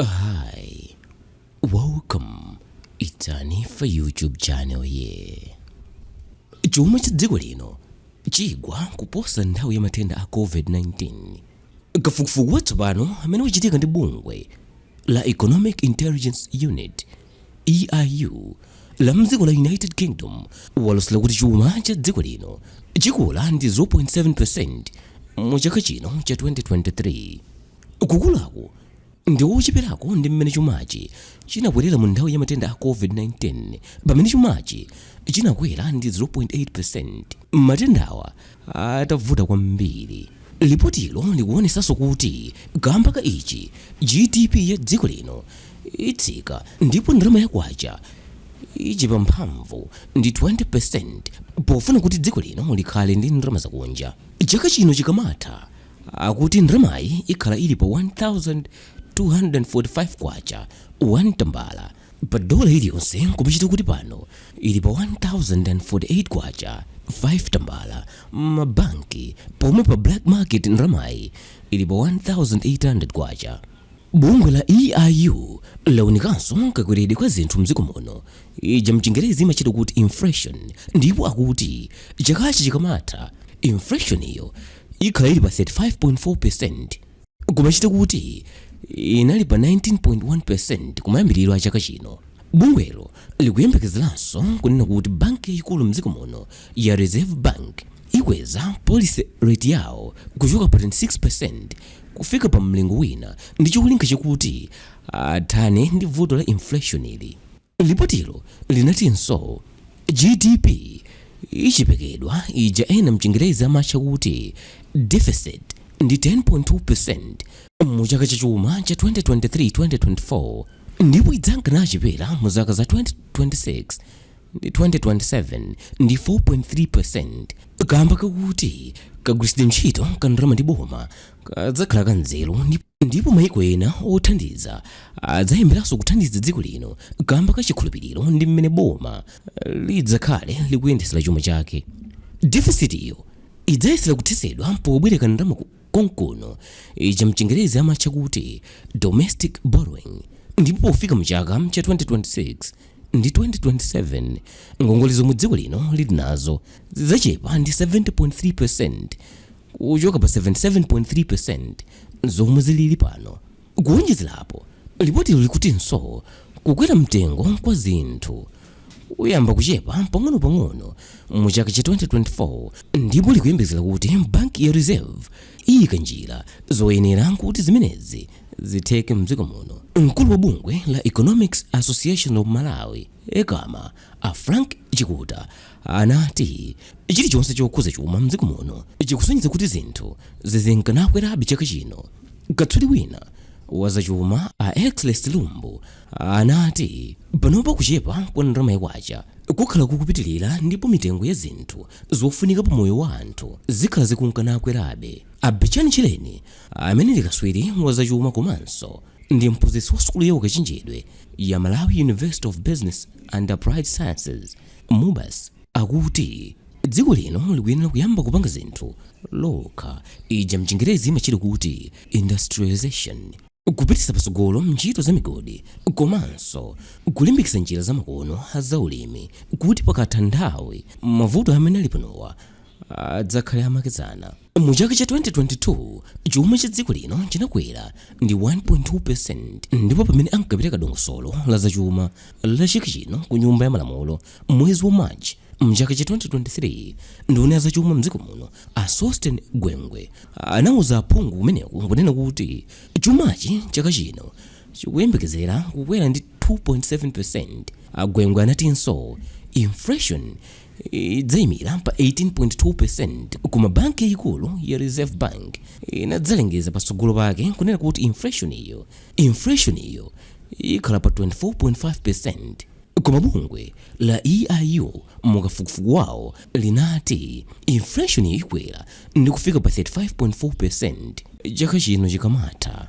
Hi, welcome. It's Anifa YouTube channel here. Chuma cha dziko lino chigwa kuposa nthawi ya matenda a COVID-19. Kafukufuku watsopano amene wachitika ndi bungwe la Economic Intelligence Unit EIU la mdziko la United Kingdom walosera kuti chuma cha dziko lino chikula ndi 0.7% mu chaka chino cha 2023. Kukulaku ndi kocheperako ndi mmene chumachi chinakwerera mu nthawi ya matenda a COVID-19 pamene chumachi chinakwera ndi 0.8 percent matendawa atavuta kwambiri. Lipotilo likuonetsanso kuti kaamba ka ichi, GDP ya dziko lino itsika ndipo ndalama ya kwacha ichepa mphamvu ndi 20 percent pofuna kuti dziko lino likhale ndi ndalama zakunja chaka chino chikamatha. Akuti ndalamayi ikhala ili pa K1,245 1 tambala pa dola iliyonse n'kumachita kuti pano ili pa K1,048 5 tambala m'mabanki pomwe pa black market ndalamayi ili pa K1,800. Bungwe la EIU launikanso kakweredwe kwa zinthu mdziko muno, ija mchingerezi imatchedwa kuti inflation, ndipo akuti chakachi chikamatha inflation-yo ikhala ili pa 35.4% n'kumachita kuti inali pa 19.1% kumayambiriro a chaka chino. Bungwelo likuyembekezeranso kunena kuti banki yayikulu mdziko muno ya Reserve Bank ikweza policy rate yawo kuchoka pa 26% kufika pa mlingo wina ndi cholinga chakuti athane ndi vuto la inflation-li. Lipotilo linatinso, GDP ichepekedwa ija ena m'Chingerezi amatcha kuti deficit ndi 10.2 percent mu chaka cha chuma cha 2023, 2024 ndipo idzanka nichepera mu zaka za 2026 ndi 2027 ndi 4.3 percent kaamba kakuti kagwiritsidwe ntchito ka ndalama ndi boma kadzakhala ka nzeru ndipo Ndipo maiko ena othandiza adzayambiranso kuthandiza dziko lino kamba ka chikhulupiriro ndi mmene boma lidzakhale likuyendetsera chuma chake. Defisitiyo idzayesera kuthetsedwa pobwereka ndalama konkuno, ija mchingerezi amatcha kuti domestic borrowing, ndipo pofika mu chaka cha 2026 ndi 2027, ngongole zomwe dziko lino lili nazo zidzachepa ndi 70.3%. kuchoka pa 77.3% zomwe zilili pano. Kuwonjezera apo, lipotilo likutinso kukwera mtengo kwa zinthu kuyamba kuchepa pang'onopang'ono mu chaka cha 2024 ndipo likuyembezera kuti banki ya reserve iyika njira zoyenera kuti zimenezi zitheke mdziko muno mkulu wa bungwe la economics association of malawi ECAMA a frank chikuta anati, Chilichonse chokhudza chuma m'dziko muno chikusonyeza kuti zinthu zizinka nakwerabe chaka chino. Katswiri wina wa zachuma a Exley Silumbu anati, Panopa kuchepa kwa ndalama ya kwacha kukhala kukupitirira ndipo mitengo ya zinthu zofunika pa moyo wa anthu zikhala zikunka nakwerabe. A Betchani Tchereni amene ndi katswiri wa zachuma komanso ndi mphunzitsi wa sukulu ya ukachenjedwe ya Malawi University of Business and Applied Sciences Mubas akuti dziko lino likuyenera kuyamba kupanga zinthu lokha, ija mchingerezi imatchedwa kuti industrialisation, kupititsa patsogolo ntchito za migodi komanso kulimbikitsa njira zamakono za ulimi kuti pakatha nthawi mavuto amene ali panowa adzakhale amakedzana. Mu chaka cha 2022 chuma cha dziko lino chinakwera ndi 1.2% ndipo pamene ankapereka dongosolo la zachuma la chaka chino ku nyumba ya malamulo mwezi wa March mchaka cha 2023 nduna ya zachuma mdziko muno a Sosten Gwengwe anauza aphungu kumeneko kunena kuti chumachi chaka chino chikuyembekezera kukwera ndi 2.7% a Gwengwe anatinso inflation idzaimira pa 18.2% koma banki yayikulu ya reserve bank inadzalengeza patsogolo pake kunena kuti inflation iyo inflation iyo ikhala pa 24.5% koma bungwe la eiu mu kafukufuku wawo linati inflation iyo ikwera ndi kufika pa 35.4% chaka chino chikamatha